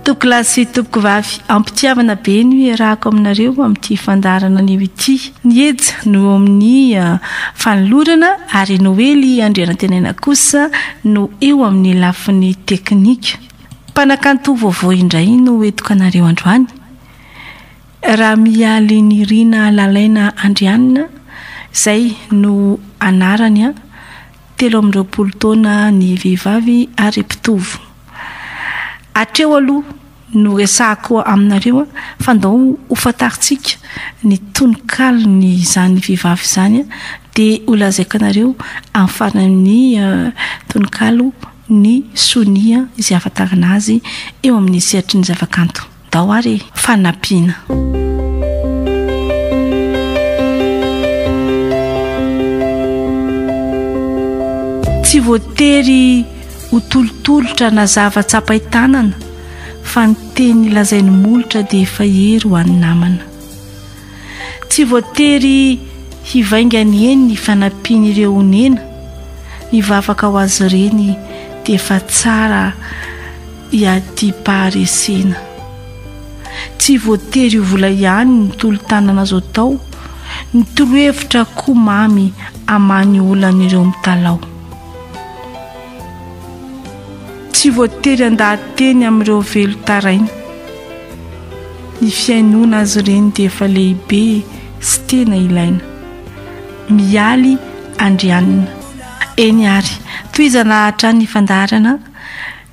Tompokolahy sy tompokovavy, ampitiavana be no iarahako aminareo amin'ity fandaharana anio ity. Ny Eja no eo amin'ny fanolorana ary Noely Andrianantenaina kosa no eo amin'ny lafiny teknika. Mpanakanto vaovao indray no hoentiko anareo androany. Ramialinirina Lalaina Andrianina, izay no anarany. telo amby roapolo taona ny vehivavy ary mpitovo. Hatreo aloha no resahako aminareo fa ndao ho fantarintsika ny tononkalon'izany vehivavy izany dia ho lazaiko anareo amin'ny faran'ny tononkalo ny sonia izay ahafantarana azy eo amin'ny sehatry ny zavakanto. Dao ary e! Fa nampiana. Tsy voatery ho tolotolotra na zava tsapai tanana fa ny teny lazain'ny molotra dia efa hery ho an'ny namana. Tsy voatery hivaingany eny ny fanampian'ireo onena, ny vavaka ho azy ireny dia efa tsara iadiam-paharesena. Tsy voatery ho vola ihany ny tolo-tanana azo atao, ny torohevitra koa mamy hamaha ny olan'ireo mitalaho. Tsy voatery handaha-teny amin'ireo velon-taraina. Ny fihainoana azy ireny dia efa lehibe sy tena ilaina. Mialy Andrianina. Eny ary, tohizana hatrany ny fandaharana,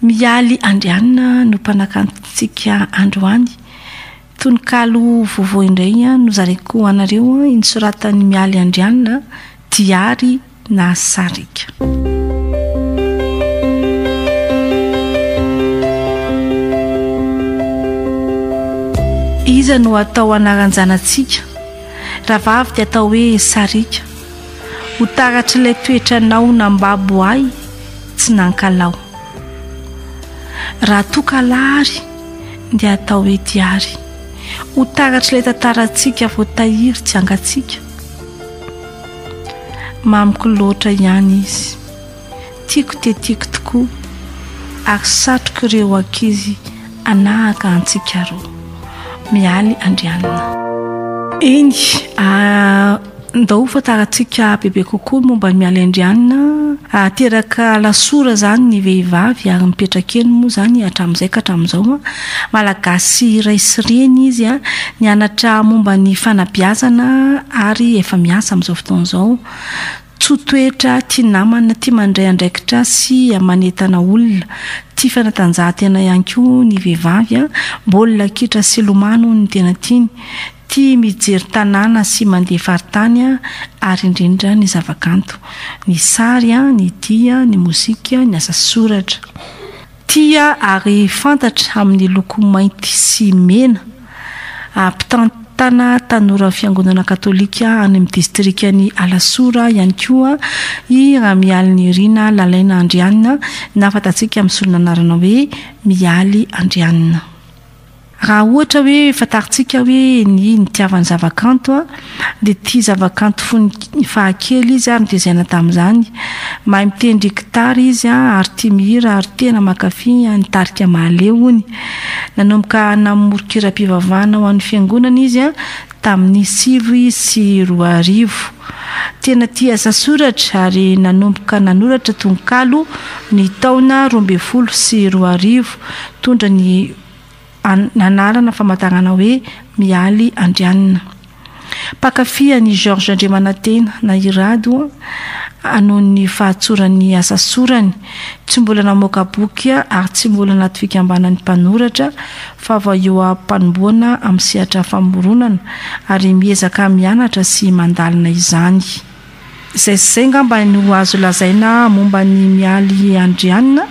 Mialy Andrianina no mpanakantontsika androany. Tononkalo vaovao indray nozaraiko ho anareo, nosoratan'i Mialy Andrianina, Diary. nahasarika. Iza no atao anaran-janatsika? Rahavavy dia atao hoe Sarika. Ho taratr'ilay toetranao nambabo ahy tsy nankalaho. Raha toa kalahary dia atao hoe Diary. Ho taratr'ilay tantarantsika voatahiry tsy angatsika. Mamiko loatra ihany izy. Tiako dia tiako tokoa ary satriko ireo ankizy hanahaka antsika roa. Mialy Andrianina. Eny, ndao ho fantarantsika bebe kokoa ny momba an'i Mialy Andrianina. Teraka Alasora izany ny vehivavy ary mipetraka eny moa izany hatramin'izay ka hatramin'izao. Malagasy iray sy reny izy, nianatra momba ny fanabeazana ary efa miasa amin'izao fotoana izao. Tsoa toetra, tia namana, tia mandray andraikitra sy manentana olona. Tia fanatanjahantena ihany koa ny vehivavy, baolina kitra sy lomano no tena tiany. Tia mijery tanàna sy mandeha faritany ary indrindra ny zavakanto, ny sary, ny dihy, ny mozika, ny asa soratra. Tia ary fantatra amin'ny loko mainty sy mena. Mpitantana tanoran'ny Fiangonana Katolika any amin'ny distrikan'i Alasora ihany koa i Ramialinirina Lalaina Andrianina na fantatsika amin'ny solon'anarana hoe Mialy Andrianina. Raha ohatra hoe fantarintsika hoe ny nitiavany zavakanto dia tia zavakanto fony fahakely izy ary notezaina tamin'izany. Mahay mitendry gitara izy ary tia mihira ary tena mankafy an'i Tarika Mahaleo hono. Nanomboka namory kiram-pivavahana ho an'ny fiangonana izy tamin'ny sivy sy roa arivo. Tena tia asa soratra ary nanomboka nanoratra tononkalo ny taona roa ambin'ny folo sy roa arivo. Nitondra ny. anarana famataranana hoe Mialy Andrianina. Mpankafy an'i Georges Andriamanantena na i Rado an, noho ny fahatsoran'ny asa sorany. Tsy mbola namoaka boky ary tsy mbola anaty fikambanan'ny mpanoratra fa vao eo am-panombohana amin'ny sehatra famoronana ary miezaka mianatra sy mandalina izany. Izay sy izay angamba no azo lazaina momba ny Mialy Andrianina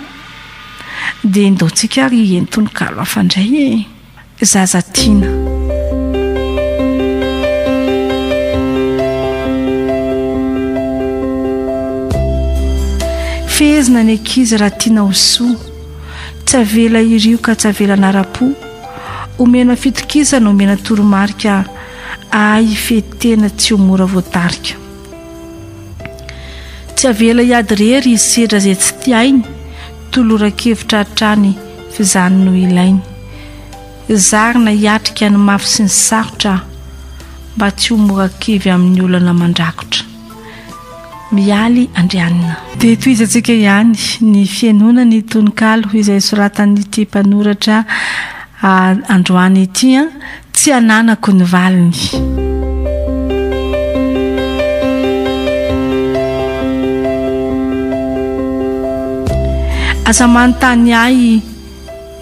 dia endaontsika ary hihaino tononkalo hafa indray e! Zaza tiana. Fehezina ny ankizy raha tiana ho soa, tsy avela hirioka, tsy avela hanara-po, omena fitokisana, omena toromarika. Ahy hifety tena tsy ho mora voatarika. Tsy avela hiady irery hisedra izay tsy tiainy, toloran-kevitra hatrany f'izany no ilainy. Zarina hiatrika ny mafy sy ny sarotra aho, mba tsy ho mora kivy amin'ny olana mandrakotra. Mialy Andrianina. Dia tohizantsika ihany ny fihainoana ny tononkalo izay soratan'ity mpanoratra androany ity an, Tsy ananako ny valiny. Aza manontany ahy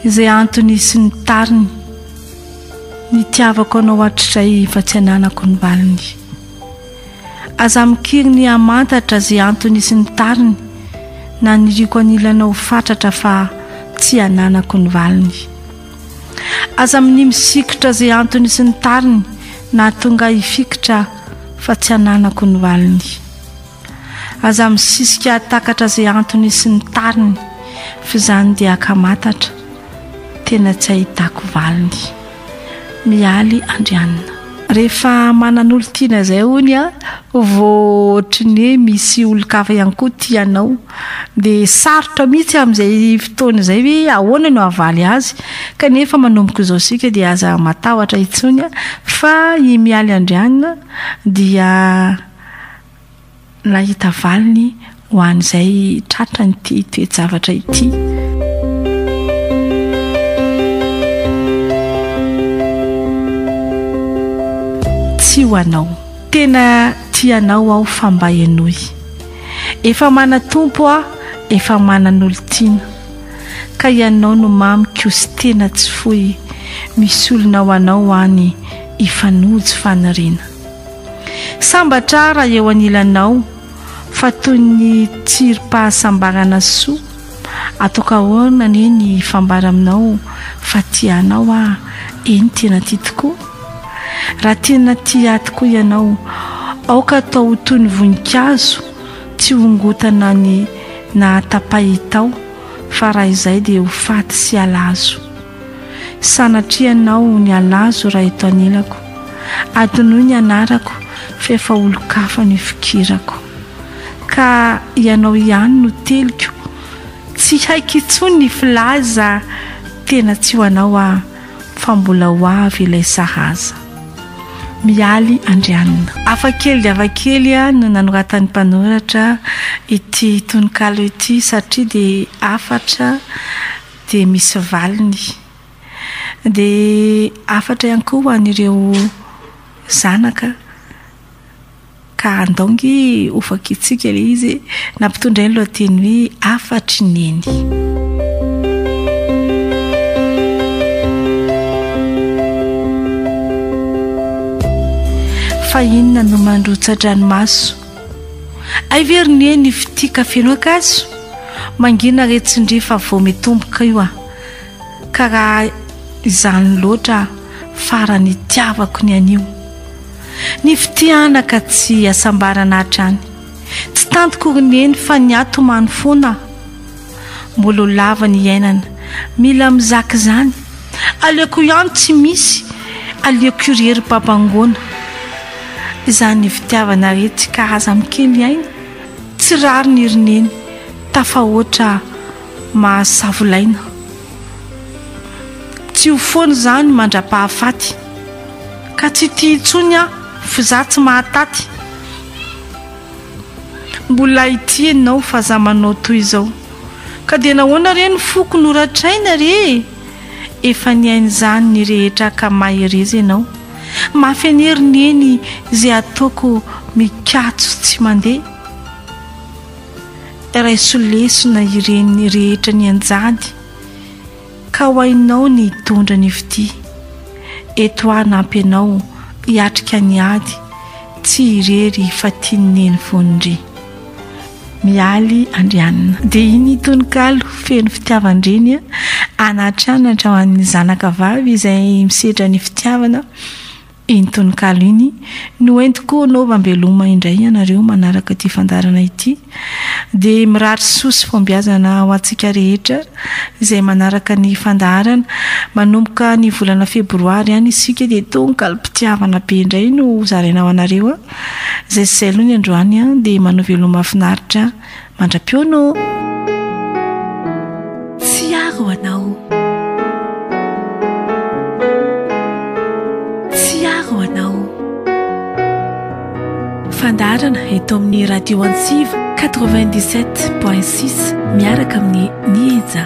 izay antony sy ny tariny. Nitiavako anao hatrizay fa tsy ananako ny valiny. Aza mikiry ny hamantatra ze antony sy ny tariny naniriako anilanao fatratra fa tsy ananako ny valiny. Aza minia misikotra ze antony sy ny tariny nahatonga ahy hifikitra fa tsy ananako ny valiny. Aza misisika hatakatra ze antony sy ny tariny f'izany dia akamatatra tena tsy ahitako valiny. Mialy Andrianina. Rehefa manana olon-tiana izay hono a, vao ohatry ny hoe misy olon-kafa ihany koa tia anao, dia sarotra mihitsy amin'izay fotoana izay hoe ahoana no hahavaly azy. Kanefa manomboka izao isika dia aza matahotra intsony fa i Mialy Andrianina dia. Nahita valiny ho an'izay tratrany ity toe-javatra ity. tsy ho anao tena tianao aho fa mba henoy efa manatompo aho efa manan'olon-tiana ka ianao no mamy kosy tena tsy fohy misolona ho anao any ifanojo faniriana Sambatra aho raha eo anilanao fa toy ny tsirim-pahasambarana soa ataoko ahoana anie ny hifambara aminao fa tia anao aho eny tena tia tokoa raha tena tia ahy tokoa ianao aoka atao ho toy ny voninkazo tsy hongotana ny nahatapahitao fa raha izay dia ho faty sy halazo Sanatria anao ny halazo raha eto anilako Adinoy ny anarako f'efa olon-kafa ny fikirako Ka ianao ihany no teliko Tsy haiko intsony ny filaza Tena tsy ho anao aho fa mbola ho avy ilay sahaza Mialy Andrianina. Hafa kely dia hafa kely no nanoratan'ny mpanoratra ity tononkalo ity satria dia hafatra. dia misy valiny. Dia hafatra ihany koa ho an'ireo zanaka ka handao nge ho fakitsiaka ilay izy nampitondra ny lohateny hoe hafatry neny. fa inona no mandrotsa-dranomaso Hay ve ry neny io fitia ka feno ankazo? Mangina re tsindrio fa vao mitomboka io a! Ka raha izany loatra farany itiavako ny anio Ny fitia anaka tsy asambarana hatrany Tsy tantiko ry neny fa ny ahy tomany foana Mbola ho lava ny iainana, mila mizaka izany. Aleoko ihany tsy misy, aleoko io ry hery babangoana. Izany fitiavana re tsy ka aza mikely aina, tsy rariny ry neny, tafahoatra mahasavolaina. Tsy ho foana izany mandra-pahafaty, ka tsy tia intsony aho f'izà tsy mahataty. Mbola hitia ianao fa za manao toy izao Ka dia nahoana re ny foko no ratraina re e Efa nihaino izany ny rehetra ka mahereza ianao Mafy an'hery neny ze ataoko mikatso tsy mandeha Raiso lesona ireny rehetra nianjady Ka ho hainao ny hitondra ny fitia. Eto aho hanampy anao hiatrika ny ady Tsy irery fa tian'i Neny foana ry. Mialy Andrianina. Dia iny tononkalo feno fitiavan-dreny an'Atra an'Atra ho an'ny zanakavavy izay misedra ny fitiavana. Iny tononkalo iny no entiko hanaova mbeloma indray ianareo manaraka ity fandaharana ity. Dia mirary soa sy fahombiazana ho antsika rehetra izay manaraka ny fandaharana. Manomboka ny volana febroary any isika dia tononkalom-pitiavana be indray no ho zaraina ho anareo. Izay sy izay aloha ny androany dia manao veloma finaritra. Mandra-pihaona ô! Tsiaro anao. Tsiaro anao. Fandaharana eto amin'ny Radio Antsiva 97.6 miaraka amin'ny Nieja.